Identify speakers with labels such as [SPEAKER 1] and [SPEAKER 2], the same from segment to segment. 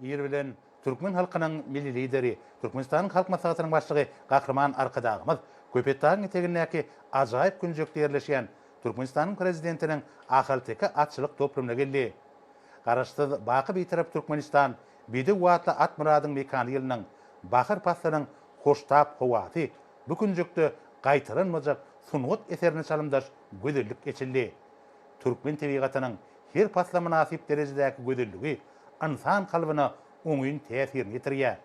[SPEAKER 1] Ir bilen türkmen halkynyň Milli Lideri, Türkmenistanyň Halk Maslahatynyň Başlygy Gahryman Arkadagymyz Köpetdagyň etegindäki ajaýyp künjekde ýerleşýän Türkmenistanyň Prezidentiniň ahalteke atçylyk toplumyna geldi. Garaşsyz, baky Bitarap Türkmenistan, bedew atly Atmyradyň mekany ýylynyň bahar paslynyň hoştap howasy, bu künjekde gaýtalanmajak sungat eserine çalymdaş gözellik eçildi. Türkmen tebigatynyň her pasla mynasyp derejedäki gözelligi ynsan kalbyna oňyn täsirini ýetirýär.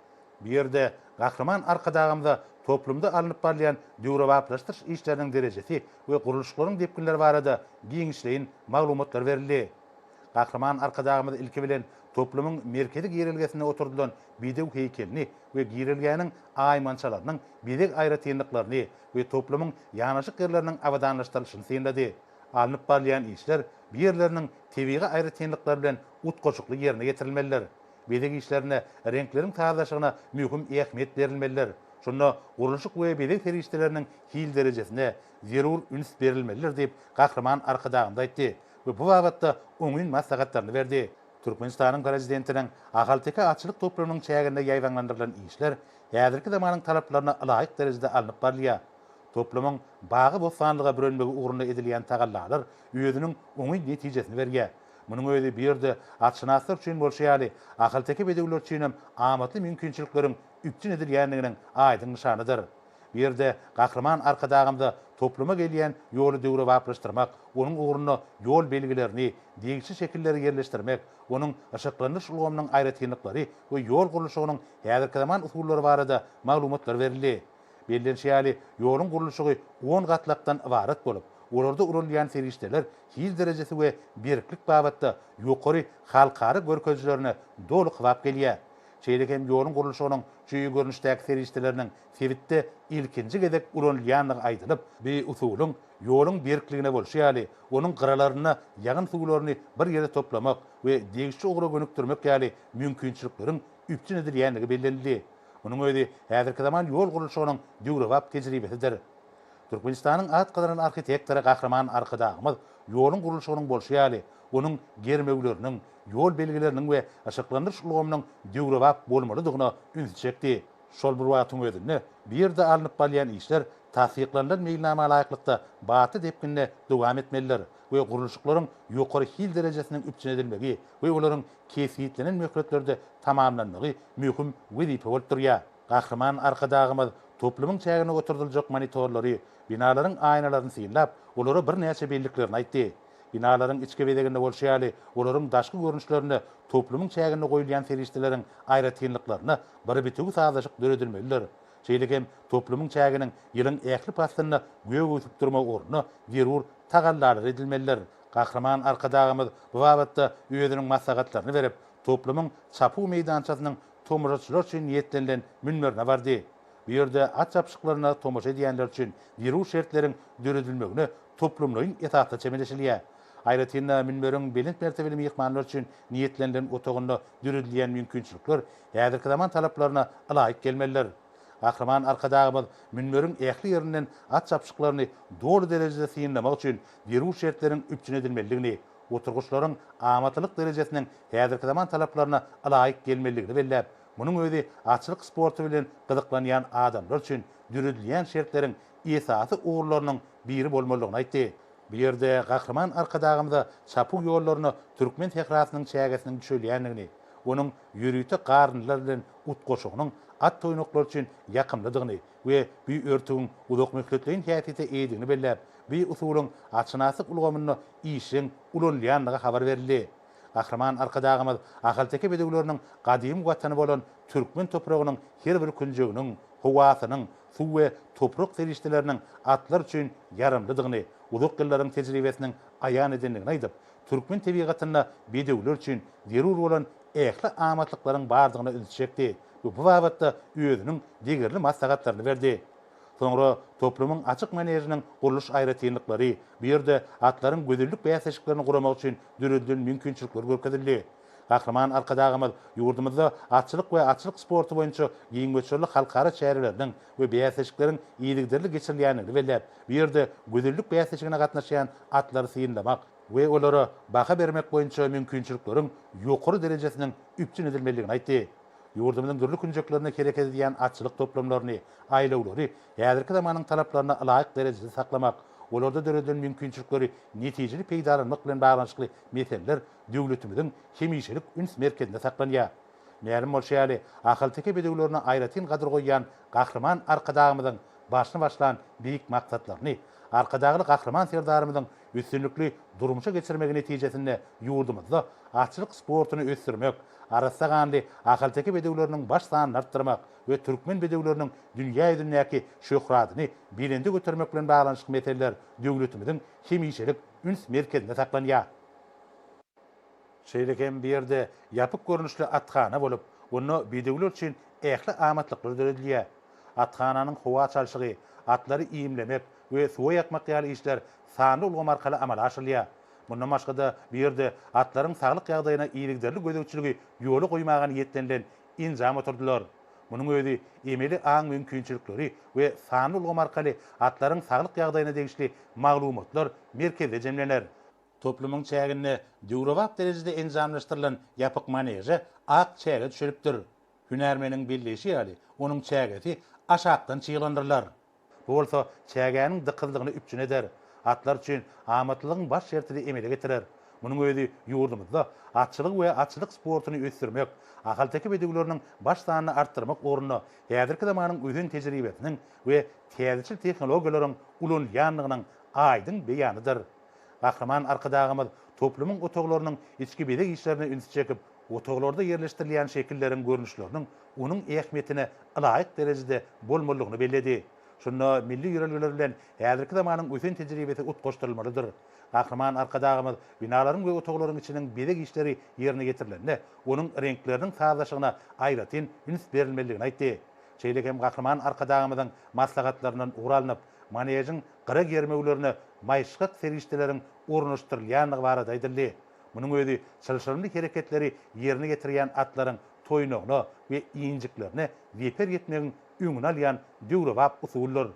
[SPEAKER 1] Bu ýerde Gahryman Arkadagymyza toplumda alnyp barylýan döwrebaplaşdyryş işleriniň derejesi we gurluşyklaryň depginleri barada giňişleýin maglumatlar berildi. Gahryman Arkadagymyz ilki bilen toplumyň merkezi girelgesinde oturdylan bedew heýkelini we girelgäniň aýmançalarynyň bezeg aýratynlyklaryny we toplumyň ýanaşyk ýerleriniň abadanlaşdyrylyşyny synlady. Alnyp barylýan işler bu ýerleriniň tebigy aýratynlyklary bilen utgaşykly ýerine ýetirilmelidir. Bezeg işlerine reňkleriň sazlaşygyna möhüm ähmiýet berilmelidir. Şunda gurluşyk we bezeg serişdeleriniň hil derejesine zerur üns berilmelidir diýip, Gahryman Arkadagymyz aýtdy we bu babatda oňyn maslahatlaryny berdi. Türkmenistanyň Prezidentiniň ahalteke atçylyk toplumynyň çäginde ýaýbaňlandyrylan işler häzirki zamanyň talaplaryna ylaýyk derejede alnyp barylýar. Toplumyň bagy-bossanlyga bürenmegi ugrunda edilýän tagallalar özüniň oňyn netijesini berýär. Munuň özi bu ýerde atşynaslar üçin bolşy ýaly, ahalteke bedewler üçinem amatly mümkinçilikleriň üpjün edilýändiginiň aýdyň nyşanydyr. Bu ýerde Gahryman Arkadagymyza topluma gelýän ýoly döwrebaplaşdyrmak, onuň ugrunda ýol belgilerini, degişli şekilleri ýerleşdirmek, onuň yşyklandyryş ulgamynyň aýratynlyklary we ýol gurluşygynyň häzirkizaman usullary barada maglumatlar berildi. Bellenişi ýaly, ýoluň gurluşygy on gatlakdan ybarat bolup, olarda ulanylýan serişdeler hil derejesi we berklik babatda ýokary halkara görkezijilerine doly kybap gelýär. Şeýle hem ýoluň gurluşygynyň çüýi görnüşdäki serişdeleriniň sebitde ilkinji gezek ulanylýandygy aýdylyp, bu usulyň ýoluň berkligine bolşy ýaly, onuň gyralarynda ýagyn suwlaryny bir ýere toplamak we degişli ugra gönükdirmek ýaly mümkinçilikleriň üpjün edilýändigi bellenildi. Munuň özi häzirki zaman ýol gurluşygynyň döwrebap tejribesidir. Türkmenistanyň at gazanan arhitektory Gahryman Arkadagymyz ýoluň gurluşygynyň bolşy ýaly, onuň germewleriniň, ýol belgileriniň we yşyklandyryş ulgamynyň döwrebap bolmalydygyna ünsi çekdi. Şol bir wagtyň özünde, bu ýerde alnyp balýan işler tassyklanylan meýilnama laýyklykda batly depginde dowam etmelidir we gurluşyklaryň ýokary hil derejesiniň üpjün edilmegi we olaryň kesgitlenen möhletlerde tamamlanmagy möhüm wezipe bolup durýar. Gahryman Arkadagymyz toplumyň çägine oturdyljak monitorlary, binalaryň aýnalaryny synlap, olara birnäçe belliklerini aýtdy. Binalaryň içki bezeginde bolşy ýaly, olaryň daşky görnüşlerinde toplumyň çäginde goýulýan serişdeleriň aýratynlyklaryna bir bitewi sazlaşyk döredilmelidir. Şeýle hem toplumyň çäginiň ýylyň ähli paslynda gök ösüp durmagy ugrunda zerur tagallalary edilmelidir. Gahryman Arkadagymyz bu babatda özüniň maslahatlaryny berip, toplumyň çapuw meýdançasynyň tomaşaçylar üçin niýetlenilen münberine bardy. Bu ýerde at çapyşyklaryna tomaşa edýänler üçin zerur şertleriň döredilmegine toplumlaýyn esasda çemeleşilýär. Aýratyn-da, münberiň belent mertebeli myhmanlar üçin niýetlenilen otagynda döredilýän mümkinçilikler häzirki zaman talaplaryna ylaýyk gelmelidir. Gahryman Arkadagymyz münberiň ähli ýerinden at çapyşyklaryny doly derejede synlamak üçin zerur şertleriň üpjün edilmelidigini, oturgyçlaryň amatlylyk derejesiniň häzirki zaman talaplaryna ylaýyk gelmelidigini belläp, munuň özi atçylyk sporty bilen gyzyklanýan adamlar üçin döredilýän şertleriň esasy ugurlarynyň biri bolmalydygyny aýtdy. Bu ýerde Gahryman Arkadagymyza çapuw ýollaryna türkmen sährasynyň çägesiniň düşelýändigini, onuň ýörite garyndylar bilen utgaşygynyň at-oýnaklary üçin ýakymlydygyny, we bu örtügiň uzakmöhletleýin häsiýete eýedigini belläp, bu usulyň atşynaslyk ulgamynda işjeň ulanylýandygy habar berildi. Gahryman Arkadagymyz ahalteke bedewleriniň gadymy watany bolan türkmen topragynyň her bir künjeginiň, howasynyň, suw we toprak serişdeleriniň atlar üçin ýaramlydygyny uzak ýyllaryň tejribesiniň aýan edendigini aýdyp, türkmen tebigatynda bedewler üçin zerur bolan ähli amatlyklaryň bardygyna ünsi çekdi we bu babatda özüniň degerli maslahatlaryny berdi. Soňra toplumyň açyk manežiniň gurluş aýratynlyklary, bu ýerde atlaryň gözellik bäsleşiklerini guramak üçin döredilen mümkinçilikler görkezildi. Gahryman Arkadagymyz ýurdumyzda atçylyk we atçylyk sporty boýunça giň möçberli halkara çäreleriniň, we bäsleşikleriň yzygiderli geçirilýändigini belläp, bu ýerde gözellik bäsleşigine gatnaşýan atlary synlamak we olara baha bermek boýunça mümkinçilikleriň ýokary derejesiniň üpjün edilmelidigini aýtdy. Ýurdumyzyň dürli künjeklerinde hereket edýän atçylyk toplumlaryny, aýlawlary häzirki zamanyň talaplaryna ylaýyk derejede saklamak, olarda döredilen mümkinçilikleri netijeli peýdalanmak bilen baglanyşykly meseleler döwletimiziň hemişelik üns merkezinde saklanýar. Mälim bolşy ýaly, ahalteke bedewlerine aýratyn gadyr goýýan Gahryman Arkadagymyzyň başyny başlan beýik maksatlaryny, Arkadagly Gahryman Serdarymyzyň üstünlikli durmuşa geçirmegi netijesinde ýurdumyzda atçylyk sportuny ösdürmek, arassa ganly ahalteke bedewleriniň baş sanyny artdyrmak we türkmen bedewleriniň dünýä ýüzündäki şöhratyny belende götermek bilen baglanyşykly meseleler döwletimiziň hemişelik üns merkezinde saklanýar. Şeýle hem bu ýerde ýapyk görnüşli athana bolup, onda bedewler üçin ähli amatlyklar döredilýär. Athananyň howa çalşygy, atlary iýmlemek we suwa ýakmak ýaly işler sanly ulgam arkaly amala aşyrylýar. Mundan başga-da, bu ýerde atlaryň saglyk ýagdaýyna yzygiderli gözegçiligi ýola goýmaga niýetlenilen enjam oturdylar. Munuň özi emeli aň mümkinçilikleri we sanly ulgam arkaly atlaryň saglyk ýagdaýyna degişli maglumatlar merkezde jemlener. Toplumyň çäginde döwrebap derejede enjamlaşdyrylan ýapyk maneže ak çäge düşelipdir. Hünärmeniň belleýşi ýaly, onuň çägesi aşakdan çyglandyrylar. Bu bolsa çägäniň dykyzlygyny üpjün eder. Atlar üçin amatlylygyň baş şertini emele getirer. Munuň özi ýurdumyzda atçylygy we atçylyk sportuny ösdürmek, ahalteke bedewleriniň baş sanyny artdyrmak ugrunda häzirki zamanyň ösen tejribesiniň we täzeçil tehnologiýalaryň ulanylýandygynyň aýdyň beýanydyr. Gahryman Arkadagymyz toplumyň otaglarynyň içki bezeg işlerine ünsi çekip, otaglarda ýerleşdirilýän şekilleriň görnüşleriniň onuň ähmiýetine ylaýyk derejede bolmalydygyny belledi. Şunda milli ýörelgeler bilen häzirki zamanyň ösen tejribesi utgaşdyrylmalydyr. Gahryman Arkadagymyz binalaryň we otaglaryň içiniň bezeg işleri ýerine ýetirilende, onuň reňkleriniň sazlaşygyna aýratyn üns berilmelidigini aýtdy. Şeýle hem Gahryman Arkadagymyzyň maslahatlaryndan ugur alnyp, manežiň gyra germewlerine maýyşgak serişdeleriň ornaşdyrylýandygy barada aýdyldy. Munuň özi çylşyrymly hereketleri ýerine getirýän atlaryň toýnagyna we injiklerine zeper ýetmegiň öňüni alýan döwrebap usuldyr.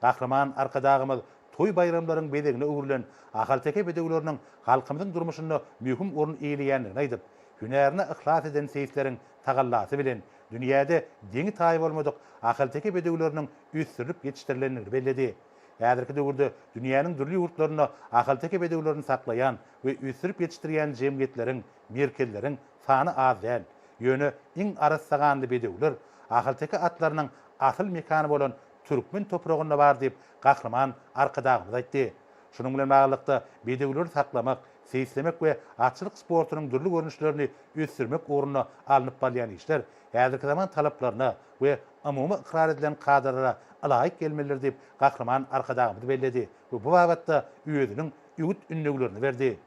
[SPEAKER 1] Gahryman Arkadagymyz toý-baýramlaryň bezegine öwrülen ahalteke bedewleriniň halkymyzyň durmuşynda möhüm orun eýeleýändigini aýdyp, hünärine yhlas eden seýisleriň tagallasy bilen dünýäde deňi-taýy bolmadyk ahalteke bedewleriniň ösdürilip ýetişdirilendigini belledi. Häzirki döwürde dünýäniň dürli ýurtlarynda ahalteke bedewlerini saklaýan we ösdürip ýetişdirýän jemgyýetleriň, merkezleriň sany az däl. Ýöne iň arassaganly bedewler ahalteke atlarynyň asyl mekany bolan türkmen topragynda bar diýip, Gahryman Arkadagymyz aýtdy. Şunuň bilen baglylykda, bedewleri saklamak, seýislemek we atçylyk sportunyň dürli görnüşlerini ösdürmek ugrunda alnyp barylýan işler häzirki zaman talaplaryna we umumy ykrar edilen kadalara ylaýyk gelmelidir diýip, Gahryman Arkadagymyz belledi we bu babatda özüniň ügüt-ündewlerini berdi.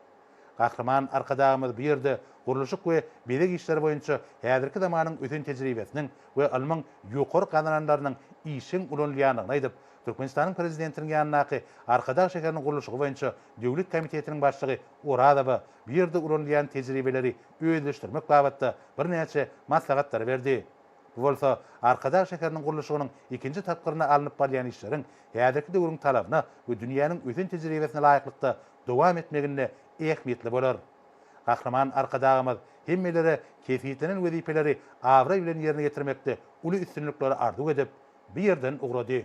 [SPEAKER 1] Gahryman Arkadagymyz bu ýerde gurluşyk we bezeg işleri boýunça häzirki zamanyň ösen tejribesiniň we ylmyň ýokary gazananlarynyň işjeň ulanylýandygyny aýdyp, Türkmenistanyň Prezidentiniň ýanyndaky Arkadag şäheriniň gurluşygy boýunça döwlet komitetiniň başlygy Orazowa bu ýerde ulanylýan tejribeleri özleşdirmek babatda birnäçe maslahatlary berdi. Bu bolsa Arkadag şäheriniň gurluşygynyň ikinji tapgyrynda alnyp barylýan işleriň häzirki döwrüň talabyna we dünýäniň ösen tejribesine laýyklykda dowam etmeginde ähmiýetli bolar. Gahryman Arkadagymyz hemmelere kesgitlenen wezipeleri abraý bilen ýerine ýetirmekde uly üstünlikleri arzuw edip, bu ýerden ugrady.